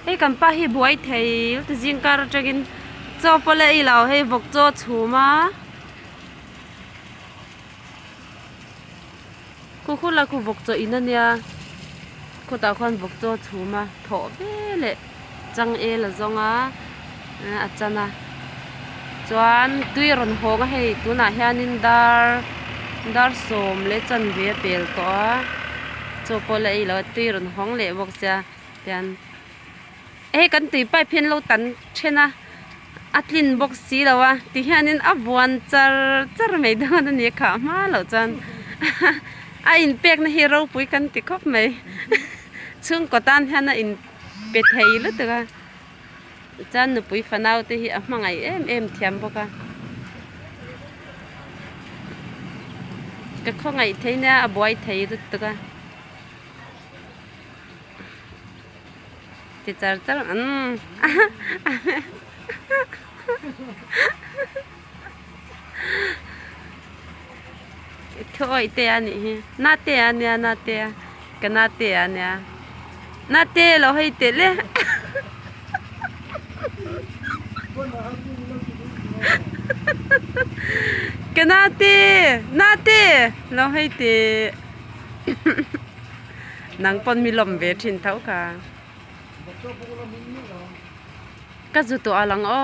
Hei kan pa hi buai theih ta zing kar atangin chaw pawh leh ilo hei vawk chaw a chhum a khaw khaw la khaw vawk chawh in a nia khawtah khawn vawk chaw a chhum a thawh ve leh chang el a zawng a. a chan a chuan tui a rawn hawng a hei tunah hianin dar dar sawm leh chanve a pel tawh a chaw pawh leh ilo tui a rawn hawng leh bawk sia tian hei kan tui pipe hi an lo tan then a a tlin bawk si lo a ti hianin a vuan char char mai dawn a ni a khah hma loh chuan a in pek na hi ropui kan ti khawp mai chhungkaw tan hian a in pe thei lutuk a. Chuan nupui fanau te hi a hmangaih em em thiam bawk a. Ka khawngaih thei nia a buai thei lutuk a. Ti char char umm. Tho oi te a nih hi. Na te a nia na te. Ka na te a nia. Na te lo hei te le. Ka na te. Na te lo hei te. Nang pon mi lom ve thin thau ka. Ka zu to alang o.